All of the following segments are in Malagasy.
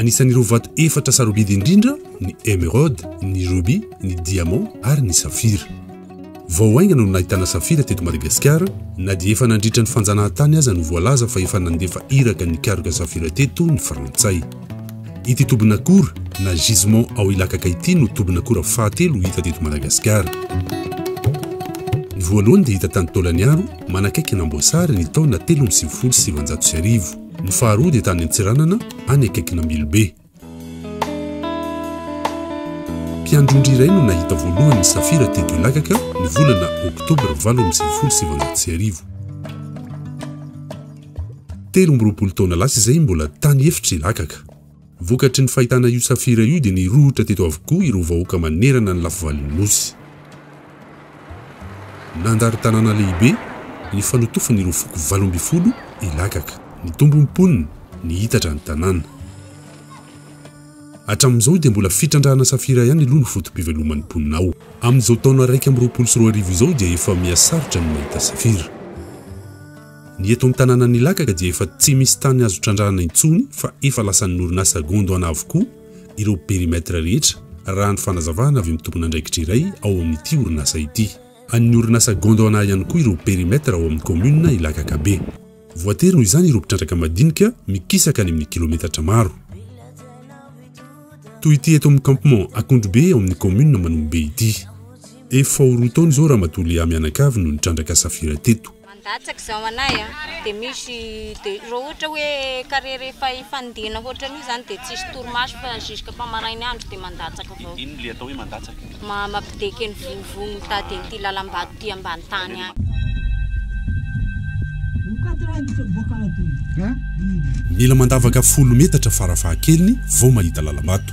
Anisan'ireo vato efatra sarobidy indrindra ny emeraude, ny rubis, ny diamant ary ny safira. Vao haingana no nahitana safira teto Madagasikara, na dia efa nandritra ny fanjanahantany aza no voalaza fa efa nandefa iraka nikaroka safira teto ny Frantsay. Ity tobin'akora, na gisement ao Ilakaka ity no tobin'akora fahatelo hita teto Madagasikara. Ny voalohany dia hita tany Taolagnaro, manakaiky an'Amboasary ny taona telo amby sivifolo sy sivinjato sy arivo. Ny faharoa dia tany Antsiranana, any akaikin'Ambilobe. Mpiandrondry iray no nahita voalohany ny safira teto Ilakaka ny volana Oktobra valo amby sivifolo sy sivinjato sy arivo. Telo amby roapolo taona lasa izay mbola tany efitra Ilakaka. Vokatry ny fahitana io safira io dia nirohotra teto avokoa ireo vahoaka manerana ny lafivalon'ny Nosy. Nandalo tanàna lehibe nifanotofan' ireo foko valo ambin'ny folo i Lagaka. Nitombo ny mponiny, nihitatra ny tanàna. Hatramin' izao dia mbola fitrandrahana safira ihany aloha no foto-piveloman' ny mponina ao. Amin' izao taona iraika amby roapolo sy roa arivo izao dia efa mihasarotra ny mahita safira. Ny eto an-tanànan' i Lagaka dia efa tsy misy tany azo trandrahana intsony fa efa lasan' ny orinasa Gondwana avokoa. ireo périmètre rehetra, raha ny fanazavana avy amin'ny tompon'andraikitra iray ao amin'ity orinasa ity. An'ny orinasa Gondwana ihany koa ireo périmètre ao amin'ny kaominina Ilakakabe. Voatery noho izany ireo mpitrandraka madinika mikisaka any amin'ny kilometatra maro. Toy ity eto amin'ny campement Akondrobe ao amin'ny kaominina Manombobe ity. Efa ho roa taona izao Ramatoa Léa mianakavy no nitrandraka safira teto. Mandatsaka izao anay a, dia misy dia raha ohatra hoe carrière efa hifanindena hoatrany io izany dia tsisy torimaso fa jusque fa marain'ny andro dia mandatsaka avao. Inona ilay atao hoe mandatsaka? Mampideky ny vovo mitady an'ity lalam-bato ity ambany tany any. Mila mandavaka folo metatra farafahakeliny vao mahita lalam-bato.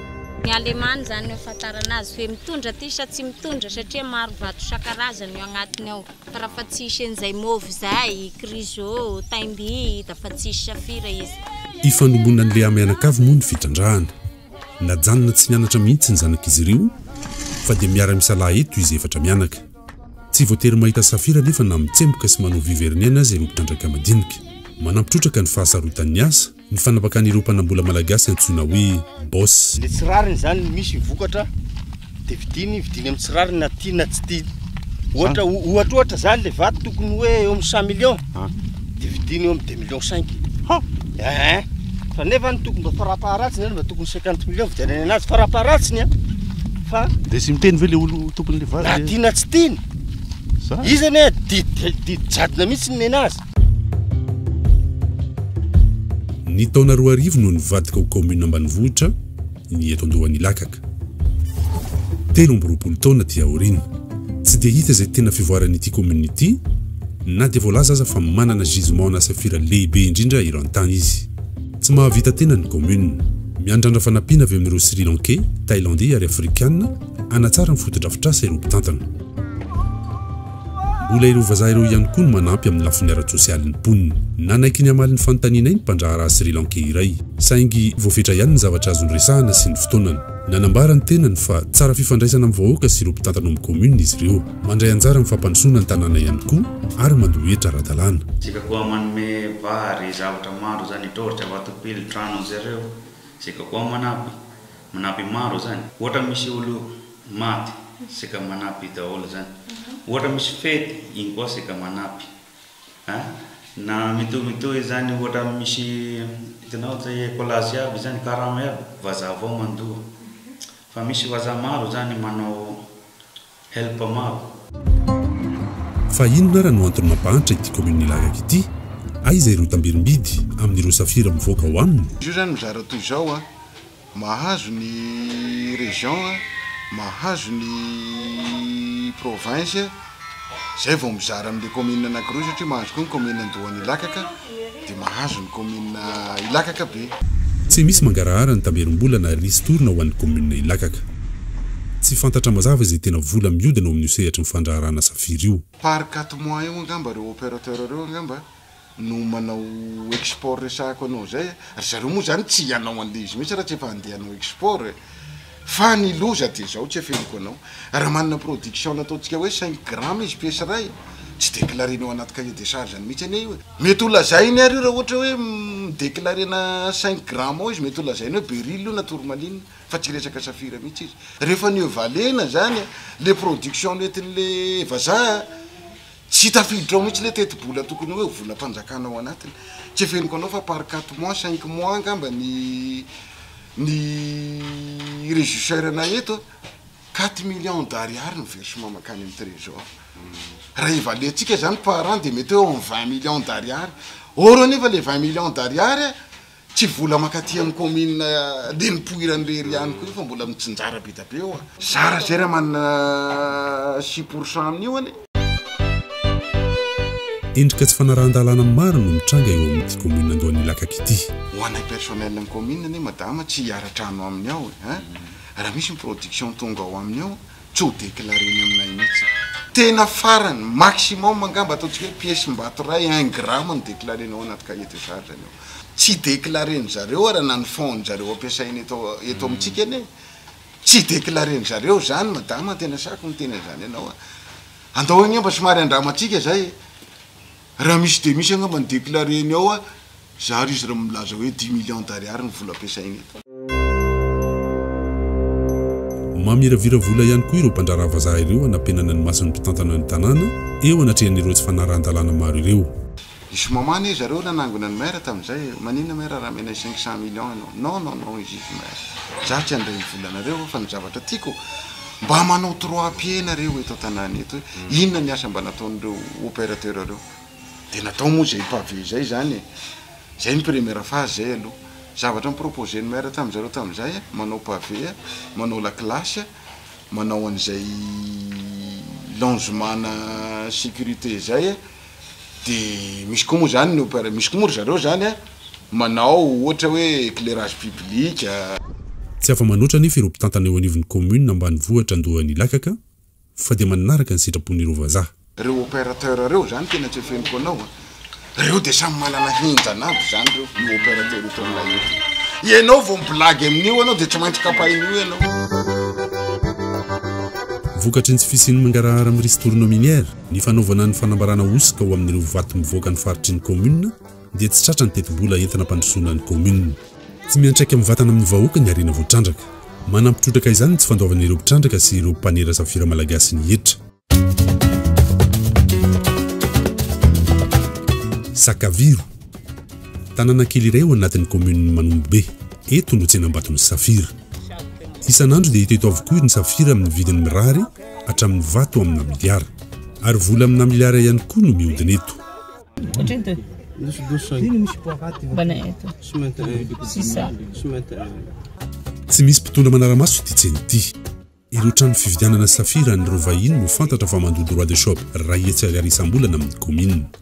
Ny alemany izany ny ahafantarana azy hoe mitondra ity sa tsy mitondra satria maro vato isan-karazany io agnatiny ao fa raha fa tsy hisy an'izay mauve izay, chryso, taimby da fa tsy hisy safira izy. Ifandombonan'ny reha-mianakavy moa ny fitrandrahana. Najanona tsy nianatra mihitsy ny zanak'izy ireo fa dia miara-misalahy eto izy efatra mianaka. Tsy voatery mahita safira anefa na mitsemboka sy manao vue vernien aza ireo mpitrandraka madinika. Manampy trotraka ny fahasarotan'ny asa. ny fanapakan'ireo mpanambola malagasy antsoina hoe Boss. Ny tsy rariny izany, ny misy ny vokatra dia vidiany, vidiany amin'ny tsy rariny na tiany na tsy tiany. Ohatra, ohatra ohatra izany ilay vato tokony hoe eo amin'ny cent millions dia vidiany eo amin'ny deux millions cinq. Ha! Eeh! Fa nefa ny tokony mba farampaharatsiny izany mba tokony cinquante millions vidianany anazy farampaharatsiny an! Fa. Dia tsy miteny ve ilay olo tompon'ilay vato hoe. Na tiany na tsy tiany! Izany! Izy anie didy didy jadona mihitsy ny nenazy. Ny taona roa arivo no nivadika ho kaominina ambanivohitra ny eto Andohan'Ilakaka. Telo amby roapolo taona aty aoriana, tsy dia hita izay tena fivoaran'ity kaominina ity na dia voalaza aza fa manana gisement na safira lehibe indrindra eran tany izy. Tsy mahavita tena ny kaominina. Miandrandra fanampiana avy amin'ireo Sri Lankey, Thailandey ary Afrikana hanatsara ny fotodrafitrasa ireo mpitantana. Mbola ireo vazaha ireo ihany koa no manampy amin'ny lafiny ara-tsosialy ny mponina. Nanaiky ny hamaly ny fanontanianay ny mpandraharaha Sri Lankey iray, saingy voafetra ihany ny zavatra azo niresahana sy ny fotoanany. Nanambara ny tenany fa tsara fifandraisana amin'ny vahoaka sy ireo mpitantana ao amin'ny kaominina izy ireo. Mandray anjara amin'ny fampandrosoana ny tanàna ihany koa ary mandoa hetra ara-dalàna. Isika koa manome vary, zavatra maro izany, dorcha, vatopily, trano anzareo. Isika koa manampy, manampy maro izany. Ohatra misy olo Maty seka manapy daholo zany ohatra misy fety iny koa seka manapy a na mitohy mitohy zany ohatra misy hitanao zay ecolage iaby zany karama iaby vazaha avao mandoa fa misy vazaha maro zany manao help maro. Fa inona ara no antony mampahantra ity commune Ilagaka ity? Aiza ireo tambirimbidy amin'ireo safira mivoaka ao aminy? Izy io zany mizara toy izao a. Mahazo ny région a, mahazo ny province, zay vao mizara amle commune anakiroa satria mahazo koa ny commune Andohan'Ilakaka de mahazo ny commune Ilakaka be. Tsy misy mangarahara ny tamberim-bola na ristourne ho an'ny commune Ilakaka. Tsy fantatra mazava izay tena vola miodina ao amin'io sehatry ny fandraharahana safira io. Par quatre mois eo angamba reo opérateur reo angamba. no manao export resahako anao zay a, ry zareo moa zany tsy hianao andeha izy mihitsy raha tsy efa handeha hanao export e, fa ny loza dia zao tsy afeniko anao, raha manana production na ataontsika hoe cinq grammes izy pièce iray tsy declarena ao anaty cahier des charges-ny mihitsy anie io e, mety ho lazainy ary io raha ohatra hoe mi-declarena cinq grammes ao izy mety ho lazainy hoe beryl io na tourmaline fa tsy resaka safira mihitsy izy, rehefa nieux valena zany le production nentin'le vazaha Tsy tafiditra ao mihitsy le tetibola tokony hoe volam-panjakana ao anatiny. Tsy afeniko anao fa par quatre mois, cinq mois angamba ny ny regisseur nay eto a. Quatre millions d'ariary ny versement mankany amin'ny trésor. Raha evaluer-tsika zany par an dia mety hoe eo amin'ny vingt millions d'ariary. Or anefa le vingt millions d'ariary a. Tsy vola makaty amin'ny kaominina dia nipoirany irery ihany koa io fa mbola mitsinjara be dia be eo a! Zara izay raha manana six pour cent amin'io anie. Endrika tsy fanarahan-dalàna maro no mitranga eo amin'ity kaominina Andohan'Ilakaka ity. Ho anay personnel ny kaominina anie madama tsy hiara-trano aminy ao e! Raha misy ny production tonga ao aminy ao, tsy ho declareny aminay mihitsy. Tena farany, maximum angamba ataontsika hoe piesim-bato iray, un gramme no declarenao anaty cahier de charge ny ao. Tsy declaren-dry zareo ary na ny fonds-dry zareo ampiasaina eto eto amintsika anie tsy declaren-dry zareo izany madama tena sahiko miteny an'izany anao a. Andao angamba somary andramantsika izay e. Raha misy dia misy angamba ny déclaré ny ao a, zary izy raha milaza hoe dix millions d'ariary ny vola ampiasainy eto. Mamiravira vola ihany koa ireo mpandraharaha vazaha ireo hanampenana ny mason'ny mpitantana ny tanàna eo anatrehan'ireo tsy fanarahan-dalàna maro ireo. I Soumama anie zareo nanangona ny maire tamin'izay, maninona maire raha menay cinq cent millions ianao? Non non non izy io tsy maire, za tsy handray ny volanareo fa ny zavatra tiako, Mba manao trois pieds nareo eto an-tanàna eto e! Inona ny asa mba nataon'ireo opérateur ireo? Dia natao moa izay pavé izay izany e! Izay ny première phase izay aloha. Zavatra ni-proposer-n'ny maire tamin'ny zareo tamin'izay a, manao pavé a, manao lakilasy a, manao an'izay longement-na sécurité izay a. de misy koa moa zany ny opéra misy koa moa ry zareo zany a manao ohatra hoe éclairage public a. Tsy afa-manoatra anefa ireo mpitantana eo anivon'ny kaominina ambanivohitra Andohan'Ilakaka fa dia manaraka ny sitrapon'ireo vazaha. Reo opérateur reo zany tena tsy afeniko anao a! Reo dia samy manana henjana aby zany reo, io opérateur eto aminay io ty! Ianao vao mi-blague amin'io anao dia tsy maintsy kapain'io ianao! Vokatry ny tsy fisian'ny mangarahara amin'ny risidorona minière, Ny fanaovana ny fanambarana hosoka ho amin'ireo vato mivoaka ny faritry ny kaominina dia tsy tratra ny tetibola entina ampandrosoana ny kaominina. Tsy miantraika mivatana amin'ny vahoaka ny harena voatrandraka. Manampy trotraka izany ny tsy fandoavana ireo mpitrandraka sy ireo mpanera safira malagasy ny hetra. Sakaviro. Tanàna kely iray ao anatin'ny kaominin'i Manombobe. Eto no tsenam-baton'ny safira. Isan'andro dia hita eto avokoa ny safira amin'ny vidiny mirary hatramin'ny vato amina miliara. Ary vola amina miliara ihany koa no mihodina eto. Tsy misy mpitondra manara-maso ity tsena ity. Ireo trano fividianana safira an'ireo vahiny no fantatra fa mandoa droit de shop iray hetsy ariary isam-bolana amin'ny kaominina.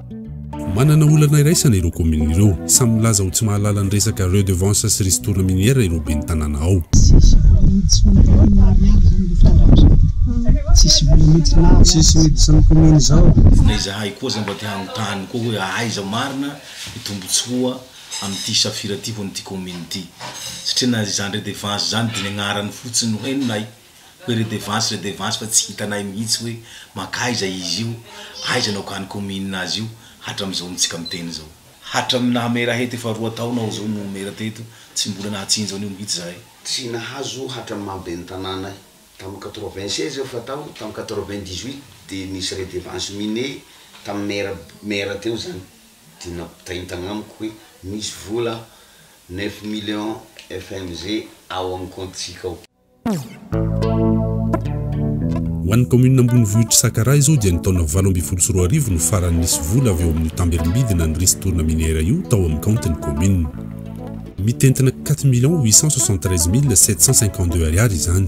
Manana olana iraisana ireo commune ireo. Samy milaza ho tsy mahalala ny resaka redevance sy ristourne minière ireo ben'ny tanàna ao. Tsisy miditsan'ny commune izao. Na izahay koa aza mba te hanontany koa hoe aiza marina ny tombotsoa amin'ity safira ity ho an'ity commune ity? Satria na izany redevance izany dia ny agnarany fotsiny no henonay. Hoe redevance redevance fa tsy hitanay mihitsy hoe mankaiza izy io, aiza no akany commune azy io, hatramizao no tsika miteny zao. Hatram naha maire ahy eto efa roa taona aho zao no maire teto tsy mbola nahatsinjo an'io mihitsy zahay. Tsy nahazo hatram maha ben'ny tanàna ahy. Tam quatre-vingt-seize aho fa tao tam quatre-vingt-dix-huit dia nisy redevance mine tam maire maire teo zany dia nampitainy tagnamiko hoe misy vola neuf millions FMG ao am compte tsika ao. Ho an'ny kaominina ambonivohitr'i Sakaraha izao dia ny taona valo ambin'ny folo sy roa arivo no farany nisy vola avy ao amin'io tambelombidy nanrisy tolona miniera io tao amin'ny kaontin'ny kaominina. Mitentina quatre millions huit cent soixante treize mille sept cent cinquante deux ariary izany.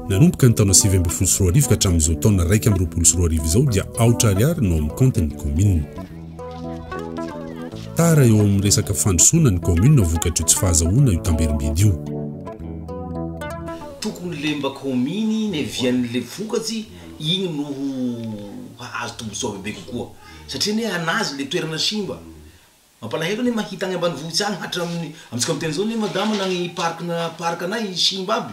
Nanomboka ny taona sivy ambin'ny folo sy roa arivo ka hatramin'izao taona iraika amby roapolo sy roa arivo izao dia aotra ariary no ao amin'ny kaontin'ny kaominina. Tara eo amin'ny resaka fandrosoana ny kaominina vokatry io tsy fahazahoana io tamberim-bidy io. Tokony le mba kaominy ny avian'le vokatsy iny no ho hahazo tombontsoa bebe kokoa satria anie anazy le toerana simba. Mampalahelo anie mahita any ambanivohitsy any hatramin'ny, amintsika miteny zao anie madama na ny parc-na parc-nay simba aby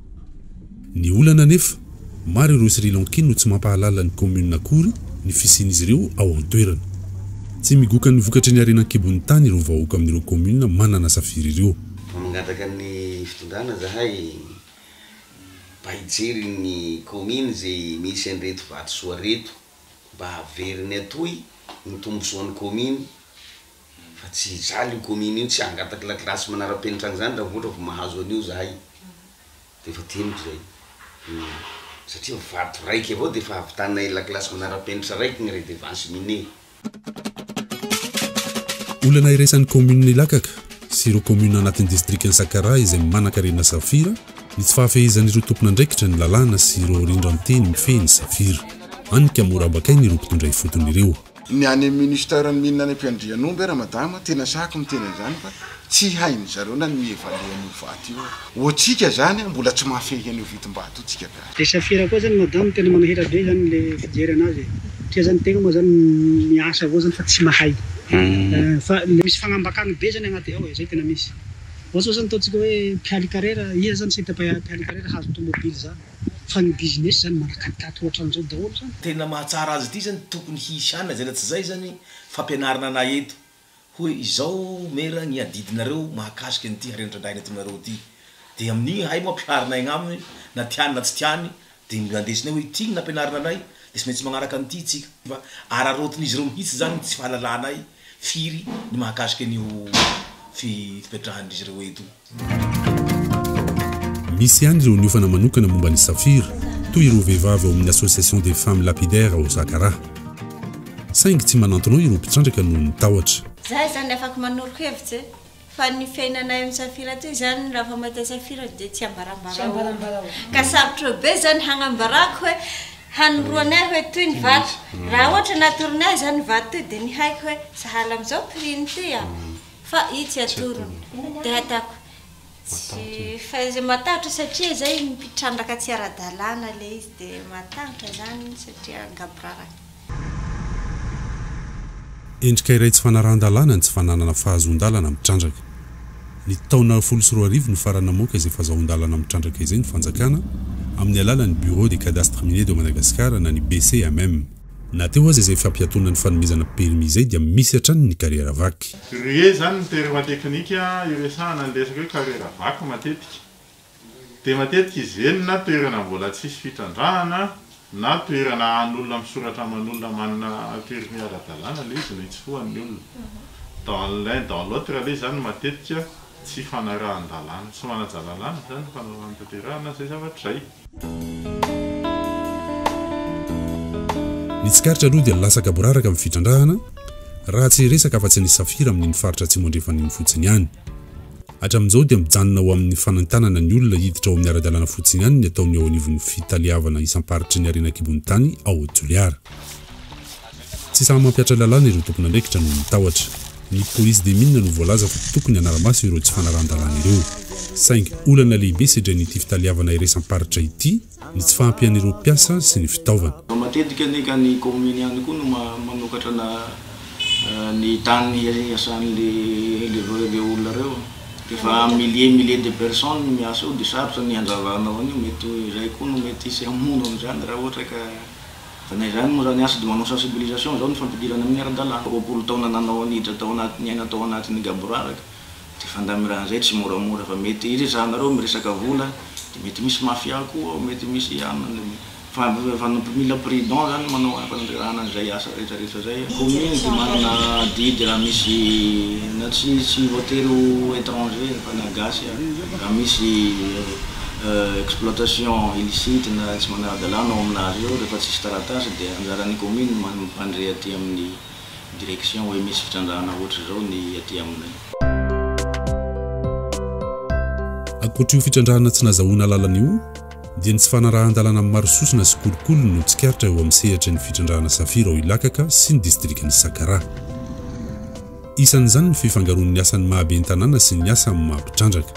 Ny olana anefa, maro ireo Sri Lankey no tsy mampahalala ny kaominina akory ny fisian'izy ireo ao an-toerana. Tsy migoka ny vokatry ny harena an-kibon'ny tany ireo vahoaka amin'ireo kaominina manana safira ireo. Vao mangataka ny fitondrana zahay mba hijery ny kaominy izay misy an'ireto vatosoa ireto mba haveriny atoy ny tombosoan'ny kaominy. Fa tsy hijaly io commune io, tsy hangataka lakilasy manarapenitra an'izany raha vao ohatra vao mahazo an'io zahay. Dia efa teniko izay. Satria vato raiky avao dia efa havitanay lakilasy manarapenitra raiky ny redevance mine. Olana iraisan'ny commune Ilakaka sy ireo commune anatin'ny distrikan'i Sakaraha izay manankarena safira ny tsy fahafehezan'ireo tompon'andraikitra ny lalàna sy ireo rindran-teny mifehy ny safira. Hany ka mora abakain'ireo mpitondra ifotony ireo. Ny any ministère ny mine any Ampiandrianomby ara madama tena sahiko miteny an'izany fa tsy hain'ny zareo na ny mi-evaluer an'io vato io aho. Ho tsika zany mbola tsy mahafehy an'io vidim-bato io tsika gasy. Dia safira koa zany madame tena manahirana be zany le fijery anazy e! Satria zany tegna moa zany miasa avao zany fa tsy mahay fa le misy fagnambakana be zany agnaty ao e! Zay tena misy. Ohatra zao zany ataontsika hoe mpialy karera, iza zany site mpahay mpialy karera hahazo tomobily zany? Fa ny business zany manakatikaty ohatran'izao daholo zany. Tena mahatsara azy ity zany tokony hisy any na zay na tsy zay zany fampianarana anay eto hoe izao mera ny adidinareo mahakasika an'ity harena trandrahina eto aminareo ity de amin'igny ahay moa ampiharinay agnaminy na tiany na tsy tiany de mba ndesinay hoe ity ny nampianarina anay de tsy maintsy magnaraka an'ity itsika fa araraotin'izy ireo mihitsy zany ny tsy fahalalanay firy ny mahakasika an'io fipetrahandrizy ireo eto io. Misy ihany ireo niofana manokana momba ny safira, toy ireo vehivavy ao amin'ny Association des femmes lapidaires ao Zakaraha. Saingy tsy manantonao ireo mpitrandraka noho ny tahotra. Za izany afaka manoro hevitra e! Fa ny fiainanay amin'ny safira aty izany raha vao mahita safira dia tsy ambarambarao. Ka sarotra eo be izany hagnambarako hoe hanoroany ahy hoe toy ny vato. Raha ohatra natoronay izany vato toy dia nihaiko hoe sahala amin'izao prix-ny ity an! Fa i tsy atoro dia hatako tsy fa izay matahotra satria zay mpitrandraka tsy ara-dalàna ilay izy dia matahotra izany satria angaboraraka. Endrika iray tsy fanarahan-dalàna ny tsy fananana fahazoan-dalana mitrandraka. Ny taona folo sy roa arivo no farany namoaka izay fazahoan-dalana mitrandraka izay ny fanjakana amin'ny alalan'ny Bureau des Cadastres Miniers de Madagascar na ny BCMM. Na teo aza izay fampiatoana ny fanomezana permis izay dia misy hatrany ny carrière vaky. Re zany ny terme teknika iresahana ny resaka hoe carrière vaky matetika. Dia matetika izy ireny na toerana mbola tsisy fitrandrahana na toerana ahan'olona misoratra aman'olona manana permis ara-dalàna ilay izy no itsofohan'ny olona. Dans l'un dans l'autre aloha izany matetika. Tsy fanarahan-dalàna, tsy manaja lalàna izany ny fanao fanatanterahana izay zavatra izay. Ny tsikaritra aloha dia lasa gaboraraka amin'ny fitrandrahana, raha tsy hiresaka afa-tsy ny safira amin'iny faritra atsimo andrefana iny fotsiny ihany. Hatramin'izao dia mijanona ho amin'ny fanentanana ny olona hiditra ao amin'ny ara-dalàna fotsiny ihany ny ataon'ny eo anivon'ny fitaleavana isam-paritry ny harena an-kibon'ny tany ao Toliara. Tsy sahy mampiatra lalàna ireo tompon'andraikitra noho ny tahotra. Ny polisy des mines no voalaza fa tokony hanara-maso ireo tsy fanarahan-dalàna ireo. Saingy olana lehibe sedrain'ity fitaleavana iraisam-paritra ity ny tsy fahampian'ireo mpiasa sy ny fitaovana. Matetika anefa ny kaominina ihany koa no manokatra ny tany hiasan'ireo olona ireo. Rehefa milliers et milliers de personnes no miasa eo dia sarotra ny handravanao an'io. Mety iray koa no mety hisy hamono an'izany raha ohatra ka Fa na izany moa izany, asa dia manao sensibilisation izao ny fampidirana amin'ny ara-dalàna. Roapolo taona nanao an'idra tao anaty niaina tao anatin'ny gaboraraka dia fandamiran izay tsy moramora fa mety iresahanareo miresaka vola dia mety misy mafia koa ao mety misy ianona fa mpmila prudent izany manao any fanandrerahana an'izay asa rehetra rehetra izay. Commune dia manana adidy raha misy na tsy tsy voatery ho etranger fa na gasy ary raha misy exploitation illicite na tsy manara-dalàna ao amin'azy eo rehefa tsisy taratasy dia anjaran'ny commune ny mampandre aty amin'ny direction hoe misy fitrandrahana ohatr'izao ny aty aminay. Ankoatr'io fitrandrahana tsy nazahoana alalana io dia ny tsy fanarahan-dalàna amin'ny maro sosona sy kolikoly no tsikaritra eo amin'ny sehatry ny fitrandrahana safira ao Ilakaka sy ny distrikan'i Sakaraha. Isan'izany ny fifangaroan'ny asan'ny maha ben'ny tanàna sy ny asa amin'ny maha mpitrandraka.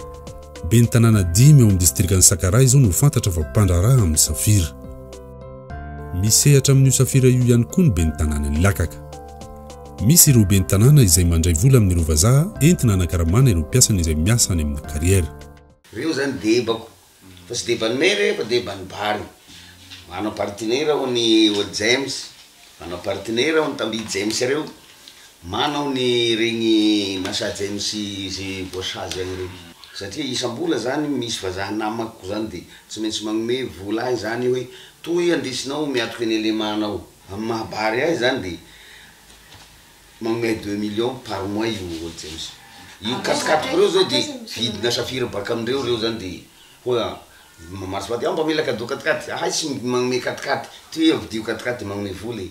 Ben'ny tanàna dimy ao amin'ny distrikan'i Sakaraha izao no fantatra fa mpandraharaha amin'ny safira. Misehatra amin'io safira io ihany koa ny ben'ny tanànan'i Lakaka. Misy ireo ben'ny tanàna izay mandray vola amin'ireo vazaha entina hanakaramana ireo mpiasany izay miasa any amina kariera. Reo zany debako fa tsy deban'ny maire fa deban'ny bary. Manam-partenera ao ny Old James Manao partenaire aho ny tambi James ireo manao ny regny massage James ze voasazy agny reo satria isambola zany misy vazaha namako zany de tsy maintsy magnome vola ahy zany hoe toy andesinao miatoky ny elema nao am maha bary ahy zany de magnome ahy deux millions par mois io olo James io katikatiko reo zao de vidina safira baka amindreo reo zany de Ho'a, maso vady, aho mba mila cadeau katikaty, ahay tsy magnome katikaty, ty hoe ampidio katikaty de magnome vola e.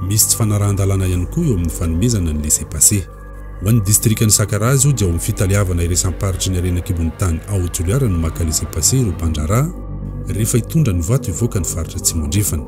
Misy tsy fanarahan-dalàna ihany koa eo amin'ny fanomezana ny laissez-passer. Ho an'ny distrikan'i Sakaraha zao dia ao amin'ny fitaleavana iraisam-paritry ny harena an-kibon'ny tany ao Toliara no maka laissez-passer ireo mpandraharaha rehefa hitondra ny vato hivoaka ny faritra Atsimo Andrefana.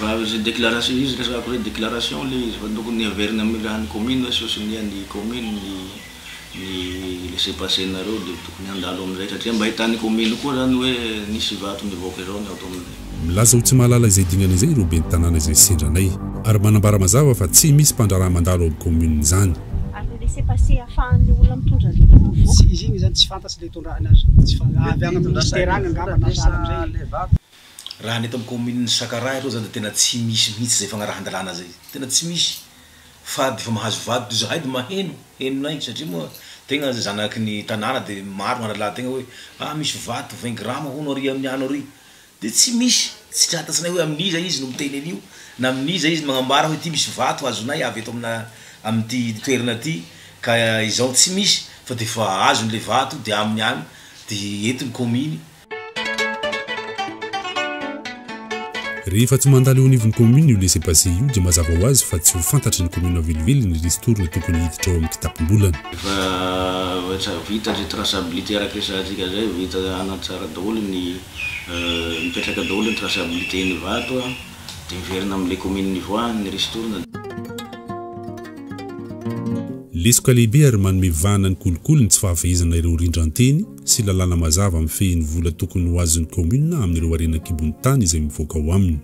Raha izay déclaration, izy resahako hoe déclaration ilay izy fa tokony heverina amin'ny raha ny commune hoe sosonian' ny commune ny ny laisser passer nareo dia tokony handalo amin'izay satria mba hitan'ny commune koa izany hoe nisy vato nivoaka izao ny ao tamin'ny Milaza ho tsy mahalala izay dingana izay ireo ben'ny tanàna izay sendra anay ary manambara mazava fa tsy misy mpandraharaha mandalo ao commune izany. Ary ny laisser passer ahafahan'ilay olona mitondra ny biby mivoaka. Tsy izy iny izany tsy fantatro ilay itondrahana azy. Avy any amin'ny ministère any angamba na sahala amin'izay. Raha ny eto amin'ny kaominin'i Sakaraha aloha izany dia tena tsy misy mihitsy izay fagnarahan-dalàna izay. Tena tsy misy. Fa dia vao mahazo vady toy izahay dia maheno, henonay satria moa tegna zanaky ny tanàna dia maro ny hahalala tegna hoe ah misy vato vingt grammes hono ary amin'ny ano ary. Dia tsy misy. Tsy tratatsinay hoe amin'iza izy no miteny an'io, na amin'iza izy no magnambara hoe ity misy vato azonay avy eto amina amin'ity toerana ity ka izao. Tsy misy. Fa dia efa azony ilay vato dia aminy any, dia eto ny kaominy. Rehefa tsy mandalo eo anivon'ny commune io laisser passer io dia mazava ho azy fa tsy ho fantatry ny commune velively ny ristourne tokony hiditra ao amin'ny kitapom-bolany. Efa efa vita zay traçabilité araka resahantsika zay vita hanatsara daholo ny mipetraka daholo ny traçabilité ny vato a de miverina amle commune nivoahany ny ristourne. Lesoka lehibe ary manome vahana ny kolikoly ny tsy fahafehezana ireo rindran-teny, sy lalàna mazava mifehy ny vola tokony ho azon'ny kaominina amin'ireo harena an-kibon'ny tany izay mivoaka ao aminy.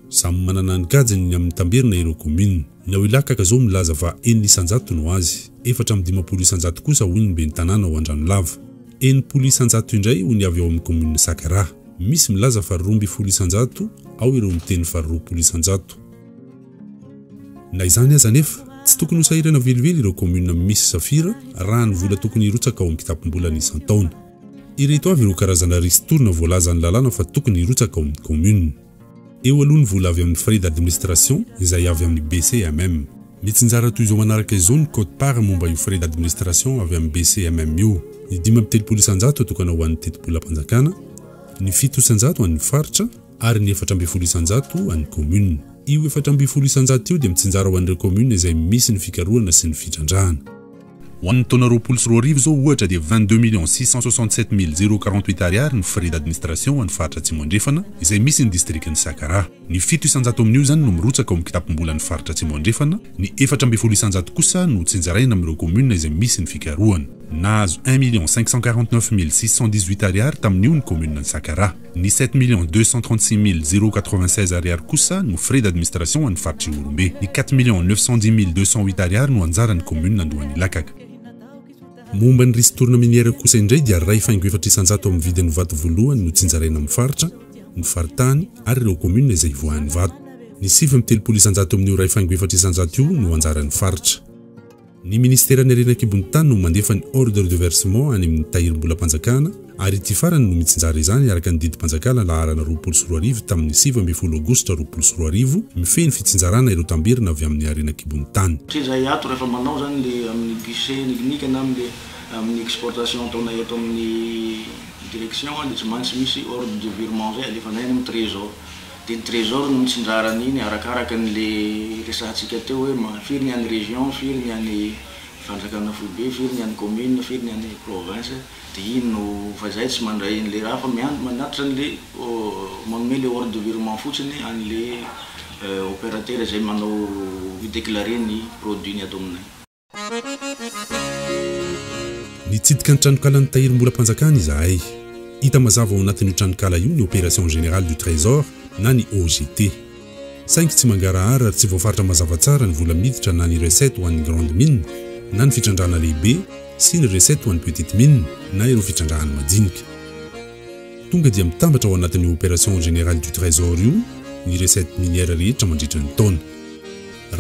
Samy manana ny gadgeny ny amin'ny tamberina ireo kaominina. Ny ao Ilakaka izao milaza fa enina isan-jato no azy, efatra amby dimampolo isan-jato kosa hoy ny ben'ny tanàna ao Andranolava. Enimpolo isan-jato indray hoy ny avy ao amin'ny kaominina Sakaraha. Misy milaza fa roa ambin'ny folo isan-jato, ao ireo miteny fa roapolo isan-jato. Na izany aza anefa, tsy tokony ho sahirana velively ireo kaominina misy safira raha ny vola tokony hirotsaka ao amin'ny kitapom-bolany isan-taona. Ireto avy ireo karazana ristourne voalazan'ny lalàna fa tokony hirotsaka ao amin'ny kaominina. Eo aloha ny vola avy amin'ny frais d'administration izay avy amin'ny BCMM. Mitsinjara toy izao manaraka izao ny quote-part momba io frais d'administration avy amin'ny BCMM io, ny dimy amby telopolo isan-jato atokana ho an'ny tetibolam-panjakana, ny fito isan-jato an'ny faritra, ary ny efatra ambin'ny folo isan-jato an'ny kaominina. Io efatra ambin'ny folo isan-jato io dia mitsinjara ho an'ireo kaominina izay misy ny fikarohana sy ny fitrandrahana. Ho an'ny taona roapolo sy roa arivo izao ohatra dia vingt-deux millions six cent soixante-sept mille zéro quarante-huit Ariary ny frais d'administration ho an'ny faritra Atsimo Andrefana izay misy ny distrikan'i Sakara. Ny fito isan-jato amin'io izany no mirotsaka ao amin'ny kitapom-bolan'ny faritra Atsimo Andrefana, ny efatra ambin'ny folo isan-jato kosa no tsinjaraina amin'ireo kaominina izay misy ny fikarohana. Nahazo un million cinq cent quarante-neuf mille six cent dix-huit Ariary tamin'io ny kaomininan'i Sakara. Ny sept millions deux cent trente six mille zéro quatre-vingt-seize ariary kosa no frais d'administration ho an'ny faritr'i Ihorombe. Ny quatre millions neuf cent dix mille deux cent huit ariary no anjaran'ny kaominina Andohan'Ilakaka. Momba ny ristourne minière kosa indray dia iray faingo efatra isan-jato amin'ny vidin'ny vato voalohany no tsinjaraina amin'ny faritra, ny faritany ary ireo kaominina izay ivoahan'ny vato. Ny sivy amby telopolo isan-jato amin'io iray faingo efatra isan-jato io no anjaran'ny faritra. Ny Ministeran'ny Harena An-kibon'ny Tany no mandefa ny Ordre de Versement any amin'ny Tahirimbolam-panjakana ary ity farany no mitsinjara izany araka ny Didim-panjakana laharana roapolo sy roa arivo tamin'ny sivy ambin'ny folo Aogositra roapolo sy roa arivo mifehy ny fitsinjarana ireo tamberina avy amin'ny Harena An-kibon'ny Tany. Satria izahay ato rehefa manao izany le amin'ny guichet unique na amin'le amin'ny exportation ataonay eto amin'ny Direction dia tsy maintsy misy Ordre de Virement izay alefanay any amin'ny Trésor. dia ny trésor no mitsinjara an'iny arakaraka an'le resahantsika teo hoe ma firy ny an'ny région, firy ny an'ny fanjakana foibe, firy ny an'ny commune, firy ny an'ny province, dia iny no, fa zay tsy mandray an'le raha fa miandry manatitra an'le manome le ordre de virement fotsiny an'le opérateur izay manao mi-déclarer ny produit ny ato aminay. Nitsidika ny tranonkalan'i Tahiry Mbolampanjakana izahay. Hita mazava ao anatin'io tranonkala io ny Opération Générale du Trésor na ny OGT. Saingy tsy mangarahara ary tsy voafaritra mazava tsara ny vola miditra na ny recettes ho an'ny Grande Mine na ny fitrandrahana lehibe sy ny recettes ho an'ny Petite Mine na ireo fitrandrahana majinika. Tonga dia mitambatra ao anatin'io Opération Générale du Trésor io ny recettes minières rehetra mandritra ny taona.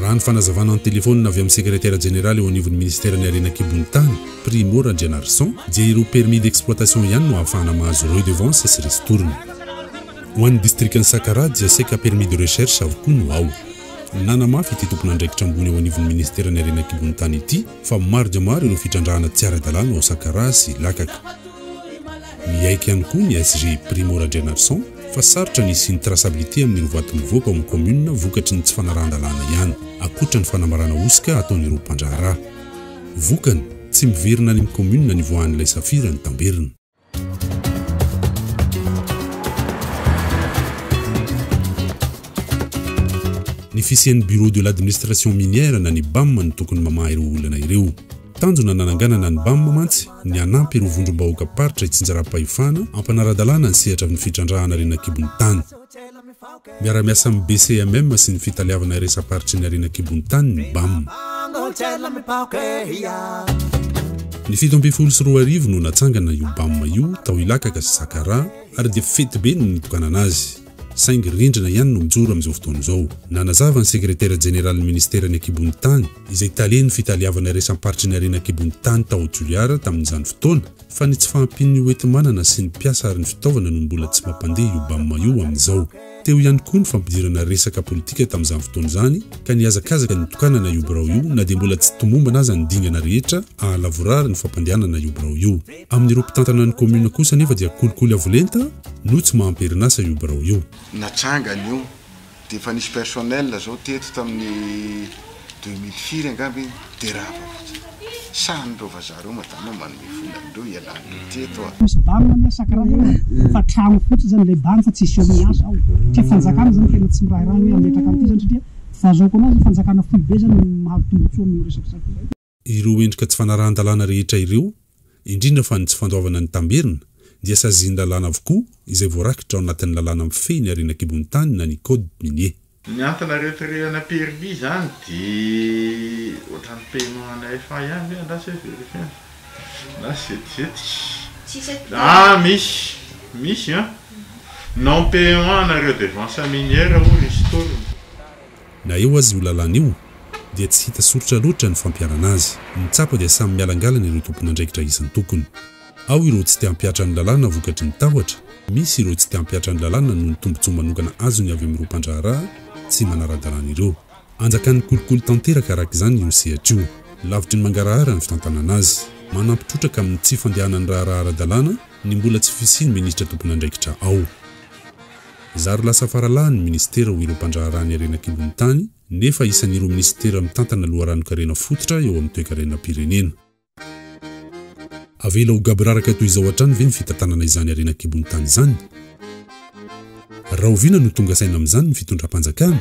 Raha ny fanazavana an-telefaonina avy amin'ny sekretera jeneraly eo anivon'ny minisiteran'ny harena an-kibon'ny tany, Primo Randrianarison, dia ireo permis d'exploitation ihany no ahafahana mahazo redevances sy ristourne. Ho an'ny distrikan'i Sakaraha dia saika permis de recherche avokoa no ao. Nanamafy ity tompon'andraikitra ambony eo anivon'ny minisiteran'ny harena an-kibon'ny tany ity fa maro dia maro ireo fitrandrahana tsy ara-dalàna ao Sakaraha sy Lakaka. Miaiky ihany koa ny SG Primo Randrianarison fa sarotra ny hisian'ny traçabilité amin'ny rovato mivoaka ao amin'ny kaominina vokatry ny tsy fanarahan-dalàna ihany, ankoatra ny fanambarana hosoka ataon'ireo mpandraharaha. Vokany, tsy miverina any amin'ny kaominina ny voahan'ilay safira ny tamberina. Ny fisian'ny Bureau de l'administration minière na ny Bam no tokony mamaha ireo olana ireo. Tanjona nananganana ny Bam mantsy ny hanampy ireo vondrom-bahoakam-paritra hitsinjaram-pahefana ampanara-dalàna ny sehatra amin'ny fitrandrahana harena an-kibon'ny tany. Miara-miasa amin'ny BCMM sy ny Fitaleavana Iraisamparitra ny Harena an-kibon'ny Tany ny Bam. Ny fito ambin'ny folo sy roa arivo no natsangana io Bam io tao Ilakaka sy Sakaraha ary dia fetibe no nitokanana azy. saingy rindrina ihany no mijoro amin'izao fotoana izao. Nanazava ny Sekretera Jeneralin'ny Ministeran'ny Ankibon'ny Tany, izay talen'ny Fitaleavana Iraisamparitra ny Harena Ankibon'ny Tany tao Toliara tamin'izany fotoana, fa ny tsy fahampian'ny hoenti-manana sy ny mpiasa ary ny fitaovana no mbola tsy mampandeha io Bam io amin'izao. Teo ihany koa ny fampidirana resaka politika tamin'izany fotoana izany, ka nihazakazaka ny hitokanana io birao io na dia mbola tsy tomombana aza ny dingana rehetra hahalavorary ny fampandehanana io birao io. Amin'ireo mpitantana ny kaominina kosa anefa dia kolikoly avo lenta no tsy maha amperin'asa io birao io. Natsangany io dia efa nisy personnel izao teto tamin'ny deux mille firy angamba iny dia rava fotsiny. Sahy ireo vazaha ireo madama no manome vola an'ireo hialan'ireo teto a! Misy ban ny asakra eo e! Fa trano fotsiny zany ilay ban fa tsisy eo miasa ao. Satria fanjakana zany tena tsy mirahiraha ny hoe hametraka an'ity zany satria fahazaoko anazy fanjakana foibe zany no mahazo tombotsoa amin'io resaka safira io. Ireo endrika tsy fanarahan-dalàna rehetra ireo, indrindra fa ny tsy fandoavana ny tamberina, dia sazin'ny lalàna avokoa izay voarakitra ao anatin'ny lalàna mifehy ny harena an-kibon'ny tany na ny code minier. Ny entana retirena permis izany dia ohatran'ny paiement ana FA ihany ve angaha sa verifiant na setizetika ah misy misy an! non paiement ana redevances minières ou ristournes. Na eo aza io lalàna io, dia tsy hita soritra loatra ny fampiharana azy. Ny tsapa dia samy mialangalana ireo tompon'andraikitra isan-tokony. Ao ireo tsy te hampihatra ny lalàna vokatry ny tahotra, misy ireo tsy te hampihatra ny lalàna noho ny tombontsoa manokana azony avy amin'ireo mpandraharaha tsy manara-dalàna ireo. Anjakan'ny kolikoly tanteraka araka izany io sehatra io, lavitry ny mangarahara ny fitantanana azy. Manampy trotraka amin'ny tsy fandehanan'ny raharaha ara-dalàna ny mbola tsy fisian'ny minisitra tompon'andraikitra ao. Zary lasa faralahy ny minisitera ho ireo mpandraharaha ny harena an-kibon'ny tany, nefa isan'ireo minisitera mitantana loharanon-karena fototra eo amin'ny toekarenam-pirenena. Avela ho gaboraraka toy izao hatrany ve ny fitantanana izany harena an-kibon'ny tany izany? Rahoviana no tonga saina amin'izany ny fitondram-panjakana?